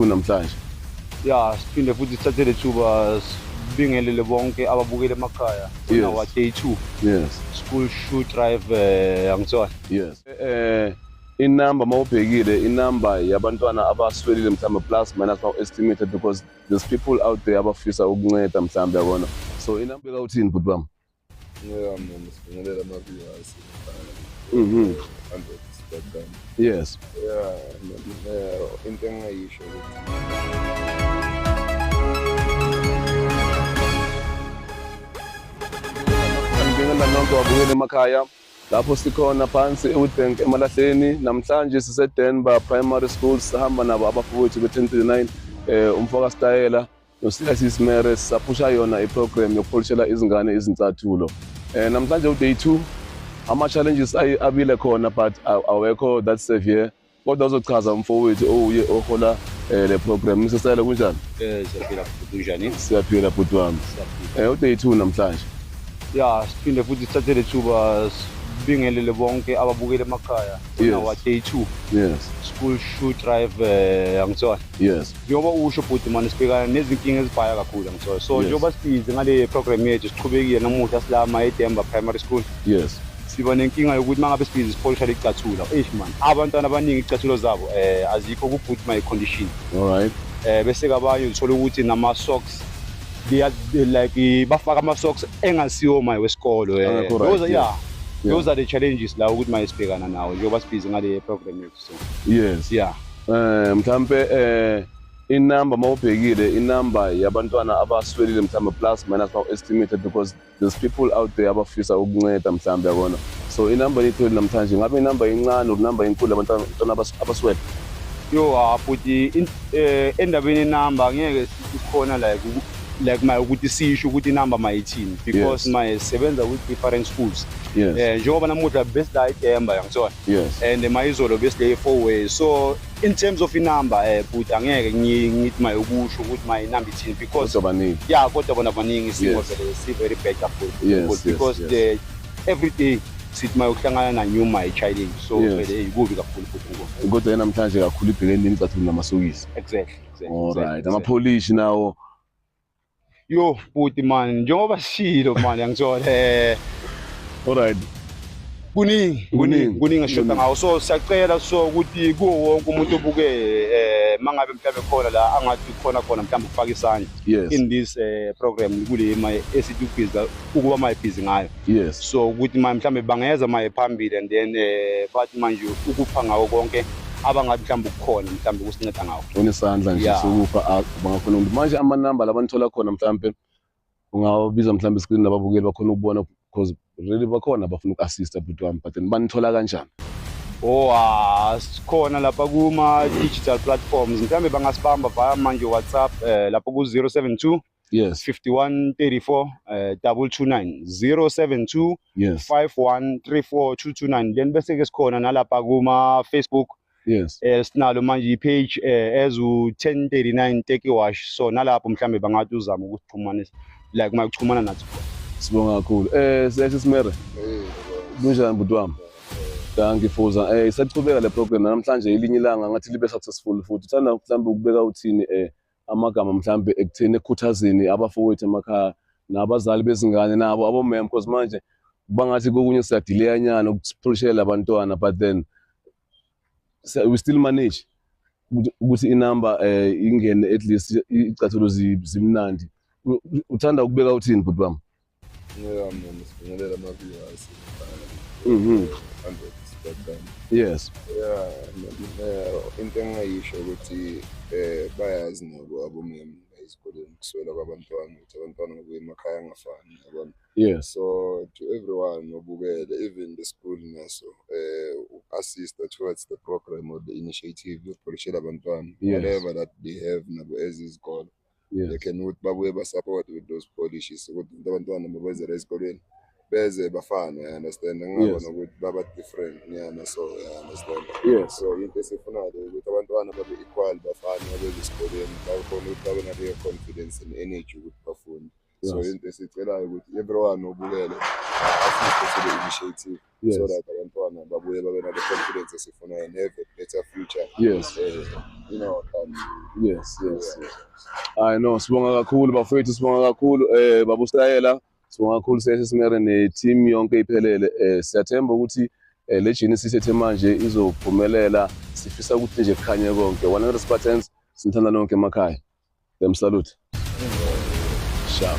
kunamhlanje ya siphinde futhi sithathe le thuba sibingelele bonke ababukele emakhaya Yes. nawa day two yes school shoe drive eh, angithola yes eh inumber mawubhekile inumber yabantwana abaswelile mhlawumbe plus minus now estimated because there's people out there abafisa ukunceda mhlawumbe yabona so inumber beka uthini bhuti bami Yeah, man, sibingelela ama-viewers. Mhm. Hundred spectrum. Yes. Yeah, eh, into engingayisho ukuthi Ngibingelela nonke wabukela emakhaya lapho sikhona phansi eWitbank eMalahleni namhlanje siseDenver Primary School sihamba nabo abafowethu be-1039 eh umfoka Stayela noSilasisi Mere sisaphusha yona iprogram yokupholishela izingane izincathulo um namhlanje uday two ama-challenges abile khona but awekho that severe kodwa uzochaza umfowethu owuye ohola um le program misesele kunjani um siyaphila bhuti unjani siyaphila bhuti wami um uday two namhlanje ya siphinde futhi sithathe le thuba sibingelele bonke ababukele emakhaya nawa day two yes school shoe drive um angitsona yes njengoba usho bhuti mani sibhekana nezinkinga ezibhaya kakhulu angisoyo so njengoba sibhizi ngale program yethu siqhubekile namuhla silama edemba primary school yes siba nenkinga yokuthi mangabe sibhizi sipolisha licathula eish man abantwana abaningi icathulo zabo eh azikho ku good my condition all right eh bese kabanye uthola ukuthi nama socks they are they like bafaka ama socks engasiwo my wesikolo eh those yeah those are the challenges la ukuthi mayesibhekana nawo njengoba sibhizi ngale program yethu so yes yeah eh mhlambe eh inumber mawubhekile inumber yabantwana abaswelile mhlambe plus minus bawu estimated because there's people out there abafisa ukunceda mhlambe yakona so inumber yetholi namhlanje ngabe inumber incane or inumber inkulu abantwana abaswele yo hafuthi eh, endabeni number ngeke kukhona like uku- like maye ukuthi sisho ukuthi inamba mayithini because Yes. maye sisebenza with different schools Yes. eh njengoba namuhla besila idemba yangithola Yes. and mayizolo besile four way so in terms of inamba eh bhuti angeke ngi- ngithi maye ukusho ukuthi maye inamba ithini because Kodwa baningi. yeah kodwa bona baningi isimo Yes. vele si very bad kakhulu Yes, Because- yes, because yes. the every day sithi maye ukuhlangana na new my challenge so Yes. vele ikubi kakhulu futhi ngoku. Kodwa yena namhlanje kakhulu ibhekene nini cathula namasokisi. exactly Alright, amapholishi nawo. Yo bhuti man, njengoba sishilo man yangithola eh Alright. kuningi kuningi kuningi eshoda ngawo so siyacela so ukuthi kuwo wonke umuntu obuke eh mangabe mhlawumbe khona la angathi khona khona mhlawumbe ukufaka isandla Yes. in this eh, program kule ma esithi ubhizi ukuba mayibhizi ngayo yes so ukuthi manje mhlambe bangeza maye phambili and then eh bathi manje ukupha ngawo konke abangathi mhlawumbe ukukhona mhlawumbe ukusinceda ngawo unesandla nje Yeah. sokupha a- bangakhona umuntu manje amanamba labanithola khona mhlampe ungawabiza mhlampe screen lababukeli bakhona ukubona because really bakhona abafuna uku-assista bhuti wami but then banithola kanjani oh ah, sikhona lapha kuma digital platforms mhlawumbe bangasibamba via manje whatsapp eh lapho ku 072 yes 5134 eh 229 072 yes 5134229 then bese ke sikhona nalapha kuma Facebook yes eh sinalo manje ipage eh as u 1039 take wash so nalapho mhlambe bangathi uzama ukuxhumanisa like uma kuxhumana nathi sibonga kakhulu eh sesi simere kunjani bhuti wami danki fuza eh isachubeka le program namhlanje ilinye ilanga ngathi libe successful futhi uthanda mhlawumbe ukubeka uthini eh amagama mhlambe ekutheni ekukhuthazeni abafowethu emakhaya nabazali bezingane nabo abomem because manje bangathi kokunye siyadileyanyana ukuphulishela abantwana but then we still manage ukuthi inumber eh ingene at least icathuluzi zimnandi uthanda ukubeka uthini bhuti bami Mhm. Yes. Yeah, into engayisho ukuthi eh bayazi nabo abomama ezikoleni kuswela kwabantwana ukuthi abantwana ngokuya emakhaya angafani yabona yes so to everyone obukele even the school naso eh assista towards the program or the initiative yokupolishela abantwana yes. whatever that they have nabo ezizikolo yes. they can ukuthi babuye basupport with those polishes ukuthi abantwana mabezela esikolweni beze bafane i understand ngingabona yes. ukuthi baba different nyana so i understand yes. so into esifunayo ukuthi abantwana babe equal bafane babeze esikolweni bakhona ukuthi babe naleyo confidence and energy ukuthi bafunde so Yes. into esicelayo ukuthi everyone obukele asiste to the initiative Yes. so that abantwana babuye babe nale confidence esifunayo and have a better future Yes. eh, in our country Yes, yes, yes. I know sibonga kakhulu bafowethu sibonga kakhulu eh babu Stayela sibonga kakhulu seshe simere ne team yonke iphelele eh siyathemba ukuthi eh, le Genesis ethe manje izophumelela sifisa ukuthi nje kukhanye konke 100 Spartans sinithanda nonke emakhaya Dem salute. Sharp.